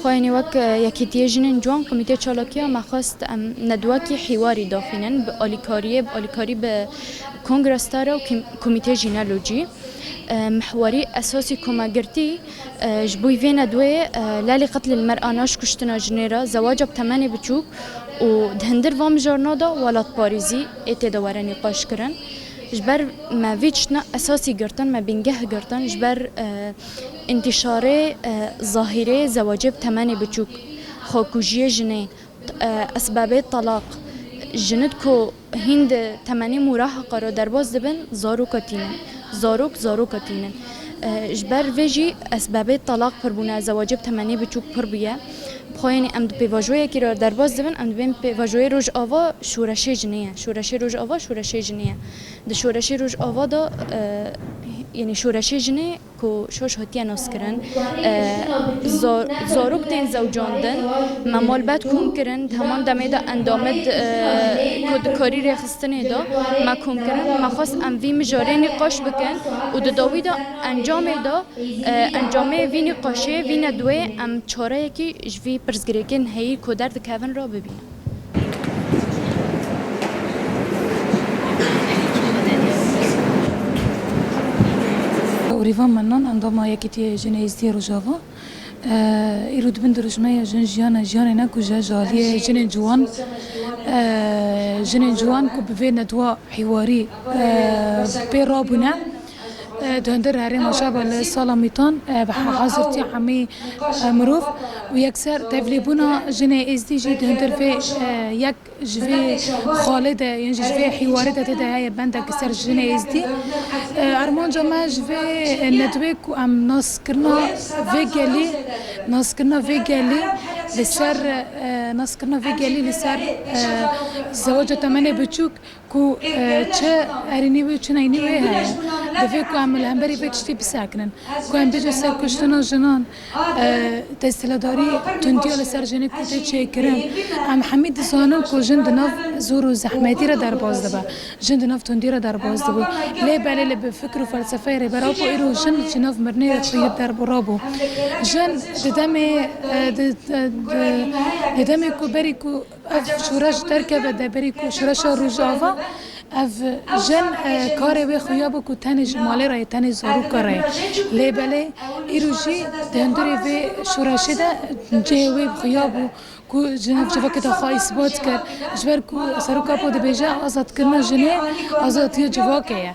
Xwe yên wek Yekîtiyê Jinên Ciwan Komîtê Çalakiya me xwest em nedwekî hîwarî daxînin bi alîkariyê bi alîkarî bi Kongresdar û Komîtê jî ne lo cî. Mihwarî esasî ku me girtî ji bo vê nedweyê lelî qetlîl mer a naş kuştina jinê re zewaca bi temenê biçûk û di hindir van mijarna de welatparêzî ê tê de were nîqaş kirin. Ji ber me vê tiştine esasî girtin me bingeh girtin ji ber Întîşarê zahîrê zewacê bi temenê biçûk, xwekujiyê jinê, esbabê telaq, jinid ku hîn di temenê mûraha xwe re derbas dibin zaroka tînin. Zarok zaroka tînin. Ji ber vê jî esbabê telaq pir bûne, zewacê bi temenê biçûk pir bûye. Bi xwe yên em di pêvajoyekî re derbas dibin, em dibên pêvajoyê Rojava şoreşê jinê ye. Şoreşê Rojava şoreşê jinê ye. Di şoreşê Rojava de yanî şoreşê jinê. ku şoş hatiye naskirin, zarok tên zewcandin, me malbat kom kirin, di heman demê de endamê di ku di karî rêxistinê de me kom kirin, me xwest em vî mijarê nîqaş bikin û di dawî de encamê de encamê vî nîqaşê vîne di wê em çareyekî ji vî pirsgirêkên heyî ku derdikevin re bibînin. Rîvan Mennan endama Yekîtîya Jinê Êzidîya Rojava, Îro di bin dirûjmeya Jin jiyana jiyanê ne ku ji heja aliyê jinên ciwan, jinên ciwan ku bi vê nedwa hîwarî pê rabûne, Di hundirê herêma Şaba li sala Mîtan bi hazirtiya hemî mirov û yekser tevlêbûna jinê êzdî jî di hundir vê yek ji vê xalê de yên jî ji vê hîwarê de tê de heye bendek li ser jinê êzdî. Armanca me ji vê nedwê ku em naskirina vê gelî naskirina vê gelî li ser naskirina vê gelî li ser zeweca temenê biçûk, Ku çi erînî wê û çi neynî wê heye. Divê ku em li hemberî vê tiştî bisekinin. Ku em bêjin serkuştina jinan, desthilatdarî tundiya li ser jinê ku tê çêkirin. Em hemî dizanin ku jin di nav zor û zehmetî re derbas dibe. Jin di nav tundî re derbas dibû. Lê belê li bi fikir û felsefeyê Rêber Apo îro jin ji nav mirinê re xwe yek derborî bû. Jin di demê di demê ku berî ku. Ev şoreş derkeve deverê ku şoreşa Rojava ev jin karê wê xuya bû ku tenê ji malê re ye, tenê zaroka re ye. Lê belê îro jî di hindurê vê şoreşê de cihê wê xuya bû ku ji nav civakê de xwe îsbat kir. Ji ber ku seroka po dibêje azadkirina jinê azadiya civakê ye.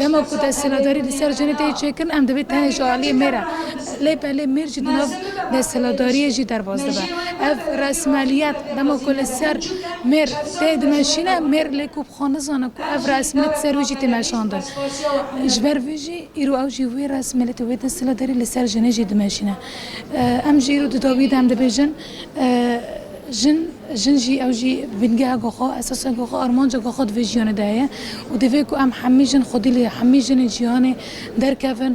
Dema ku desthilatdarî li ser jinê tê çêkirin em divê tenê ji aliyê mêr e. Lê belê mêr jî di nav desthilatdariyê jî derbas dibe. Ev resmeliyet dema ku li ser mêr tê dimeşîne, mêr lê ku bi xwe nizane ku ev resmilît li ser wî jî tê meşandin. Ji ber vê jî îro ew jî wê resmilîtî wê desthilatdarî li ser jinê jî dimeşîne. Em jî îro di dawiyê de em dibêjin. Jin, jin jî ew jî bingeheke xwe, esaseke xwe, armanceke xwe di vê jiyanê de heye û divê ku em hemî jin xwedî li hemî jinên cîhanê derkevin.